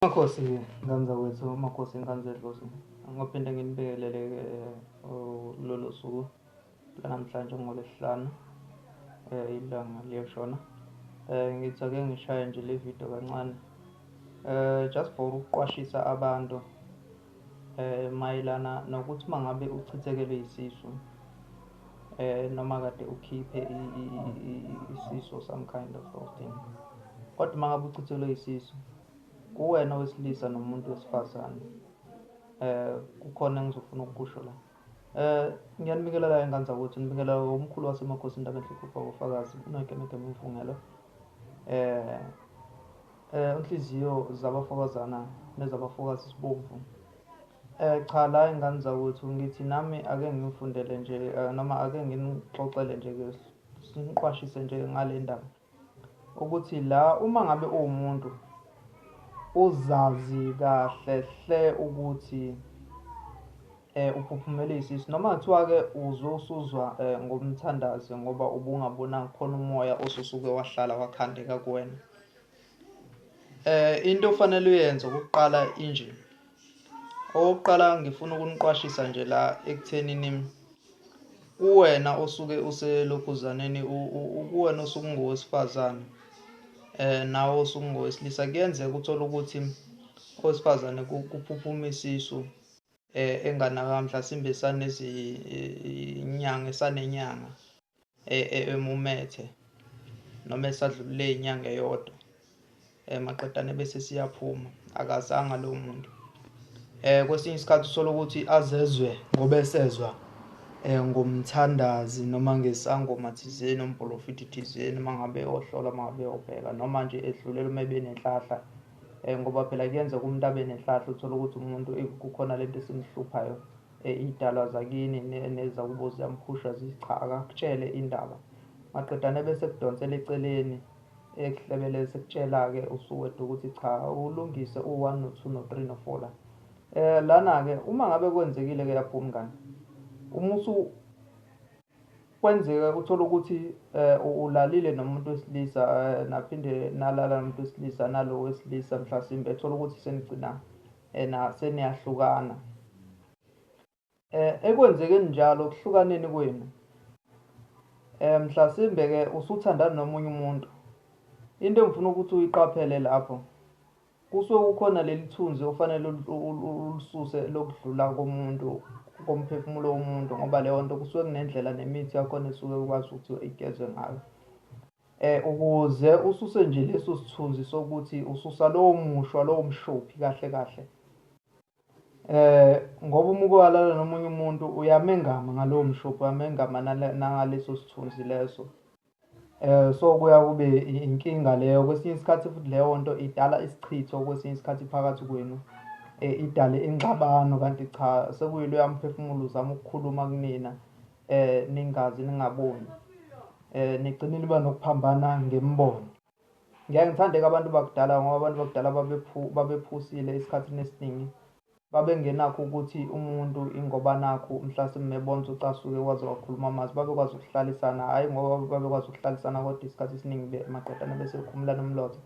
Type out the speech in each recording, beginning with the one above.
Makhosi Nganza wethu, Makhosi Nganza Dlozi, ngophinde nginibingelele eh, lolo suku lanamhlanje ngolesihlanu eh, ilanga liyashona. Eh, ngithi ake ngishaye nje le video kancane just for ukuqwashisa abantu Eh mayelana nokuthi mangabe uchithekelwe isisu eh noma kade ukhiphe isisu or some kind of thing kodwa uma ngabe uchithelwe isisu kuwena wesilisa nomuntu wesifazane eh kukhona engizofuna ukusho la eh ngiyanibingelela ingane zakwethu nibingelela umkhulu wasemakhosini ndabenhle kubaba ufakazi unoyikemekeme umfungelo eh Eh nhliziyo zabafokazana nezabafokazi sibomvu. Eh cha la ingane zakwethu ngithi nami ake ngimfundele nje eh, noma ake nginixoxele nje ke siniqwashise nje ngale ndaba ukuthi la uma ngabe uwumuntu uzazi kahle hle ukuthi eh uphuphumele isisi noma kuthiwa ke uzwe usuzwa eh, ngomthandazi ngoba ubungabonanga khona umoya osusuke wahlala wakhandeka kuwena Eh into ofanele uyenze ukuqala injini. Okokuqala ngifuna ukuniqwashisa nje la ekuthenini kuwena osuke uselokhuzaneni kuwena osuke ungowesifazane eh nawe osuke ungowesilisa kuyenzeka uthola ukuthi owesifazane kuphuphuma isisu eh enganaka mhlasimbe sanezinyanga esanenyanga e, e, emumethe noma esadlulule inyanga eyodwa eh, maqedane bese siyaphuma akazanga lo muntu eh kwesinye isikhathi usola ukuthi azezwe ngoba esezwa eh ngomthandazi noma ngesangoma thizeni umprofiti thizeni mangabe ohlola mangabe obheka noma nje edlulela uma benenhlahla eh ngoba phela kuyenzeka umuntu abe nenhlahla uthola ukuthi umuntu kukhona lento esimhluphayo Iydalwa zakini nezakubo ziyamhusha zithi cha akakutshele indaba maqedane bese ekudonsela eceleni ekuhlebeleze sekutshela-ke usuwedwa ukuthi cha ulungise u-one no-two no-three no-four la um lana-ke uma ngabe kwenzekile-ke lapho umngane uma kwenzeka uthola ukuthi um ulalile nomuntu wesilisa um naphinde nalala nomuntu wesilisa nalo wesilisa mhlasimbe ethola ukuthi senigcinana ena seniyahlukana eh ekwenzekeni njalo kuhlukaneni kwenu eh mhlasimbe ke usuthandana nomunye umuntu into engifuna ukuthi uyiqaphele lapho kusuke kukhona leli thunzi ofanele ulisuse lokudlula komuntu komphefumulo womuntu ngoba leyo nto kusuke kunendlela nemithi yakhona esuke ukwazi ukuthi igezwe ngayo E, ukuze ususe nje leso sithunzi sokuthi ususa lowo mushwa, lowo mshophi kahle kahle. E, ngoba uma uke walala nomunye umuntu uyamengama ngalowo mshophi, uyamengama nangaleso sithunzi leso. Eh so kuya kube inkinga leyo kwesinye isikhathi futhi leyo nto idala isichitho kwesinye isikhathi phakathi kwenu eh idale ingxabano kanti cha sekuyiloya mphefumulo uzama ukukhuluma kunina eh ningazi ningaboni eh nigcine niba nokuphambana ngemibono ngeke ngithandeka abantu bakudala ngoba abantu bakudala babephu babephusile isikhathi nesiningi babengenakho ukuthi umuntu ingoba nakho mhla simebonza ucasuke kwaze wakhuluma amazi babekwazi ukuhlalisana hhayi ngoba babekwazi ukuhlalisana kodwa isikhathi esiningi maqedane bese bekhumulana umlotha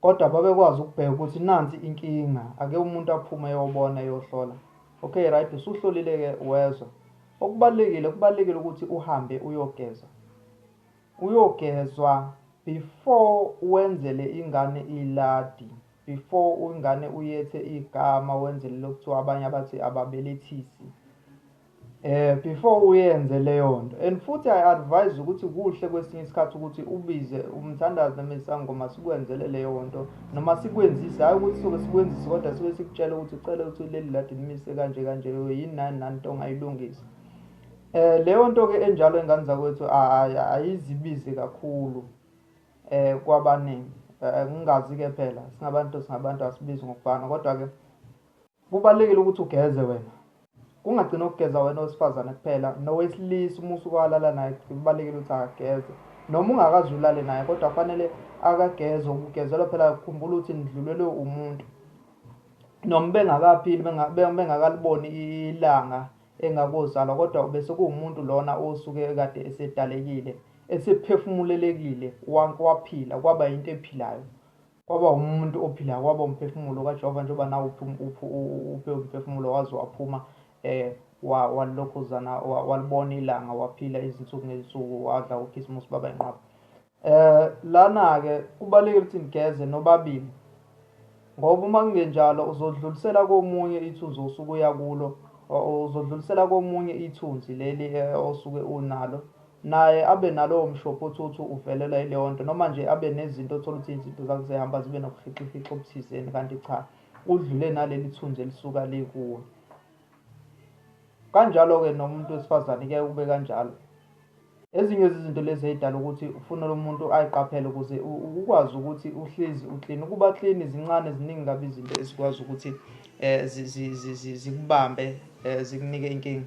Kodwa babekwazi ukubheka ukuthi nansi inkinga ake umuntu aphume eyobona eyohlola okay right usuhlolile ke wezwa okubalekile kubalekile ukuthi uhambe uyogeza uyogezwa before wenzele ingane iladi before ingane uyethe igama wenzele lokuthiwa abanye abathi ababelethisi Eh before uyenze leyonto and futhi I advise ukuthi kuhle kwesinye isikhathi ukuthi ubize umthandazi noma isangoma sikwenzele leyonto noma sikwenzise hayi ukuthi soke sikwenzise kodwa sibe sikutshela ukuthi ucela ukuthi leli ladi limise kanje kanje yini nani nani nto ongayilungisa. Eh leyo nto ke enjalo ingane zakwethu ayizibizi kakhulu eh kwabaningi eh, ngingazi ke phela singabantu singabantu asibizi ngokufana kodwa ke Kubalulekile ukuthi ugeze wena. Kungagcina ukugeza wena owesifazane kuphela nowesilisa uma usuke walala naye kubalulekile ukuthi akageze. Noma ungakaze ulale naye kodwa kufanele akageze ukugezelwa phela khumbula ukuthi nidlulelwe umuntu. Noma bengakaphili bengakaliboni ilanga engakozalwa kodwa bese kuwumuntu lona osuke kade esedalekile esephefumulelekile waphila kwaba yinto ephilayo. Kwaba umuntu ophilayo, kwaba umphefumulo kaJehova, njengoba nawo uphe umphefumulo waze waphuma eh walokhuzana walibona ilanga waphila izinsuku ngezinsuku wadla ukhisimusi baba inqwaba eh lana-ke kubalulekile ukuthi ngigeze nobabili ngoba uma kungenjalo uzodlulisela komunye ithunzi osuke uya kulo uzodlulisela komunye ithunzi leli eh, osuke unalo naye abe nalowo mshophi othi uthi uvelelwa yileyo nto noma nje abe nezinto othola ukuthi izinto zakhe zehamba zibe nobuhixihixi obuthizeni kanti cha udlule naleli thunzi elisuka likuwe kanjalo-ke nomuntu wesifazane kuyaye kube kanjalo ezinye zezinto lezi ey'dala ukuthi ufuna lo muntu ayiqaphele ukuze ukwazi ukuthi uhlezi uklini ukuba klini zincane ziningi kabi izinto ezikwazi ukuthi um zikubambe um zikunike inkinga